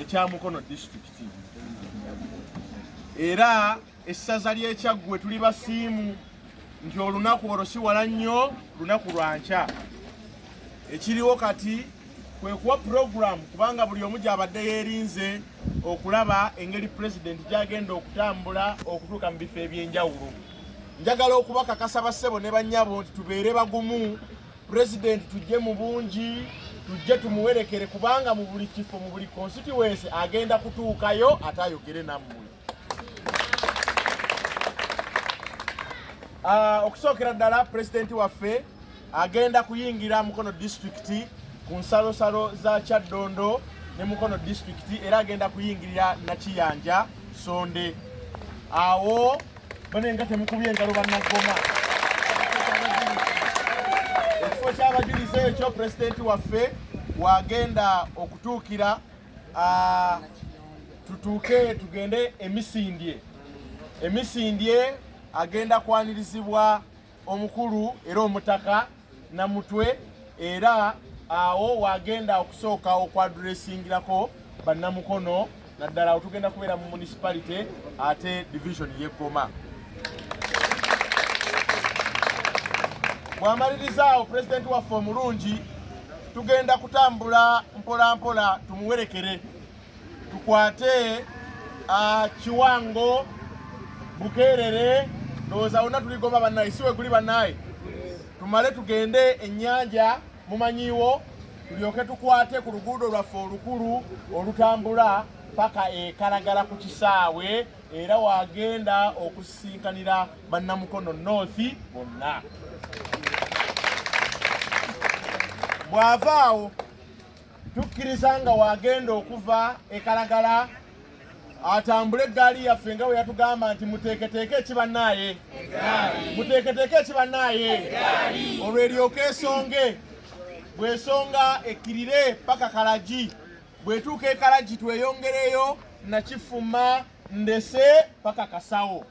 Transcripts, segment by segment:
ekya Mukono disitulikiti era essaza ly'ekyaggwe tuli basiimu nti olunaku olwo si wala nnyo lunaku lwa nkya ekiriwo kati kwe kuwa puroguramu kubanga buli omu gy'abadde yeerinze okulaba engeri pulezidenti gy'agenda okutambula okutuuka mu bifo eby'enjawulo njagala okubakakasa bassebo ne bannyabo nti tubeere bagumu Pulezidenti tujje mu bungi tujje tumuwerekere kubanga mu buli kifo mu buli konsitiwensi agenda kutuukayo ate ayogere nammwe. Ah, okusookera ddala pulezidenti waffe agenda kuyingira mukono disitulikiti ku nsalosalo za kyaddondo ne mukono disitulikiti era agenda kuyingirira nakiyanja sonde awo bane nga temukubye engalo bannagoma ekifo ky'abajulizi ekyo pulezidenti waffe wagenda okutuukira tutuuke tugende emisindye emisindye agenda kwanirizibwa omukulu era omutaka namutwe era awo wagenda okusooka okwadresingirako bannamukono naddala otugenda kubeera mu municipality ate division yeggoma bwamalirizaawo pulezidenti waffe omulungi tugenda kutambula mpolampola tumuwerekere tukwate kiwango bukeerere ndowooza wonna tuligoma bannaye si weguli bannaye tumale tugende ennyanja mumanyiiwo tulyoke tukwate ku luguudo lwaffe olukulu olutambula paka ekalagala ku kisaawe era wagenda okusisinkanira bannamukono north bonna bw'ava awo tukkiriza nga wagenda okuva ekalagala atambule eggaali yaffe nga bwe yatugamba nti muteeketeeke ekibanaaye muteeketeeke ekibanaaye olwo eryoka esonge bwesonga ekkirire paka kalagi bwetuuka ekalagi tweyongereyo nakifuma ndese paka kasawo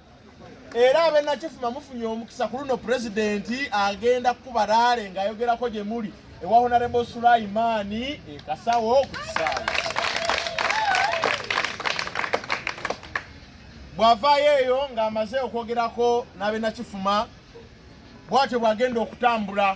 era abenakifuma mufunye omukisa ku luno pulezidenti agenda kukuba raale ng'ayogerako gye muli ewa honarebo sulaimaani ekasawo ku kisaawe bw'avaayo eyo ng'amaze okwogerako n'abenakifuma bw'atyo bw'agenda okutambula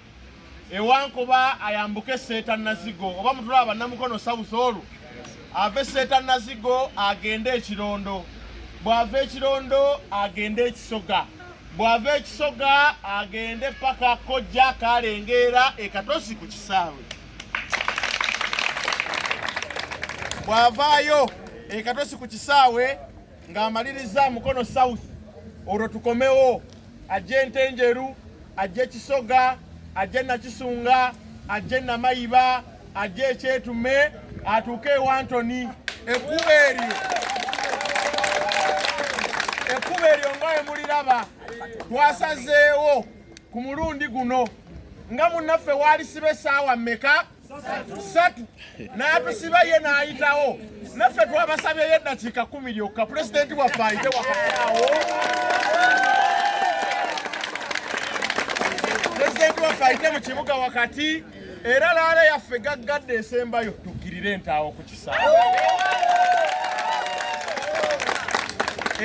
ewankoba ayambuke seeta nazigo oba mutulaba bannamukono south olwo ave seeta nazigo agende ekirondo bw'ava ekirondo agende ekisoga bw'ava ekisoga agende paka kojja kalengeera ekatosi ku kisaawe bw'avaayo ekatosi ku kisaawe ng'amaliriza Mukono South olwo tukomewo ajje Ntenjeru ajje Kisoga ajje Nakisunga ajje Namayiba ajje Ekyetume atuuke ewantoni ekkuba eryo ekkuba eryo nga we muliraba twasazeewo ku mulundi guno nga munnaffe waalisiba essaawa mmeka satu n'atusiba ye n'ayitawo naffe twabasabyeyo eddakiika kumi lyokka pulezidenti waffe ayite wakaawo pulezidenti waffe ayite mu kibuga wakati era laala yaffe gaggadde esembayo tukkirire entaawo ku kisaawe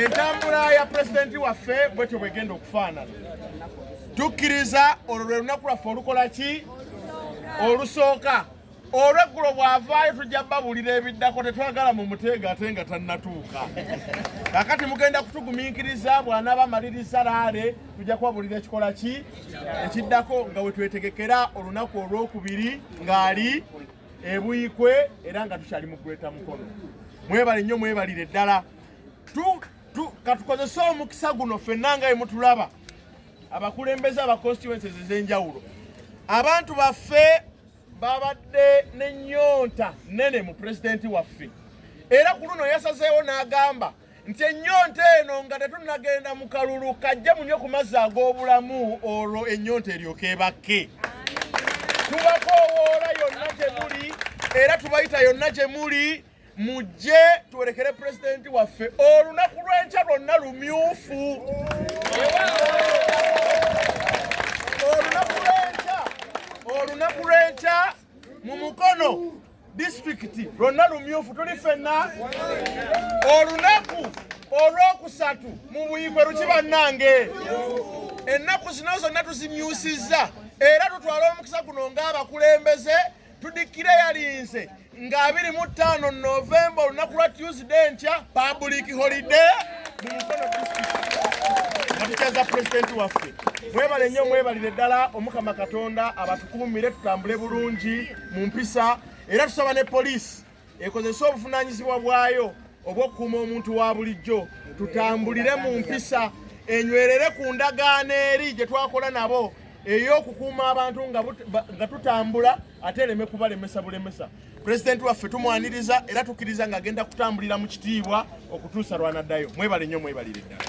entambula ya pulezidenti waffe bwetyo bwegenda okufaanana tukkiriza olwo lwe lunaku lwaffe olukola ki olusooka olweggulo bw'avaayo tujja babuulira ebiddako tetwagala mu muteega ate nga tannatuuka kakati mugenda kutugumiikiriza bw'anaaba amaliriza laale tujja kubabuulira ekikola ki ekiddako nga we twetegekera olunaku olw'okubiri ng'ali ebuikwe era nga tukyali mu gweta mukono mwebale nnyo mwebalire ddala katukozese omukisa guno ffenna nga emutulaba abakulembeze aba constituencies ez'enjawulo abantu baffe babadde n'ennyonta nnene mu pulezidenti waffe era ku luno yasazeewo n'agamba nti ennyonta eno nga tetunnagenda mu kalulu kajje munyo ku mazzi ag'obulamu olwo ennyonta eryoka ebakke tubakoowoola yonna gye muli era tubayita yonna gye muli mujje tuwerekere pulezidenti waffe olunaku lw'enkya lwonna lumyufu olunaku lw'enkya olunaku lw'enkya mu mukono disitulikiti lwonna lumyufu tuli fenna olunaku olwokusatu mu buyigwe luki bannange ennaku zino zonna tuzimyusizza era tutwala omukisa guno ng'abakulembeze tudikire yalinze nga 25 November olunaku lwa Tuesday ntya public holiday mu Mukono district president waffe mwebale nnyo mwebalire ddala omukama katonda abatukuumire tutambule bulungi mu mpisa era tusaba ne poliisi ekozese obuvunaanyizibwa bwayo obw'okukuuma omuntu wa bulijjo tutambulire mu mpisa enywerere ku ndagaano eri gye twakola nabo ey'okukuuma abantu nga tutambula ate ereme kubalemesa bulemesa pulezidenti waffe tumwaniriza era tukkiriza ng'agenda kutambulira mu kitiibwa okutuusa lwanaddayo mwebale nnyo mwebalire ddala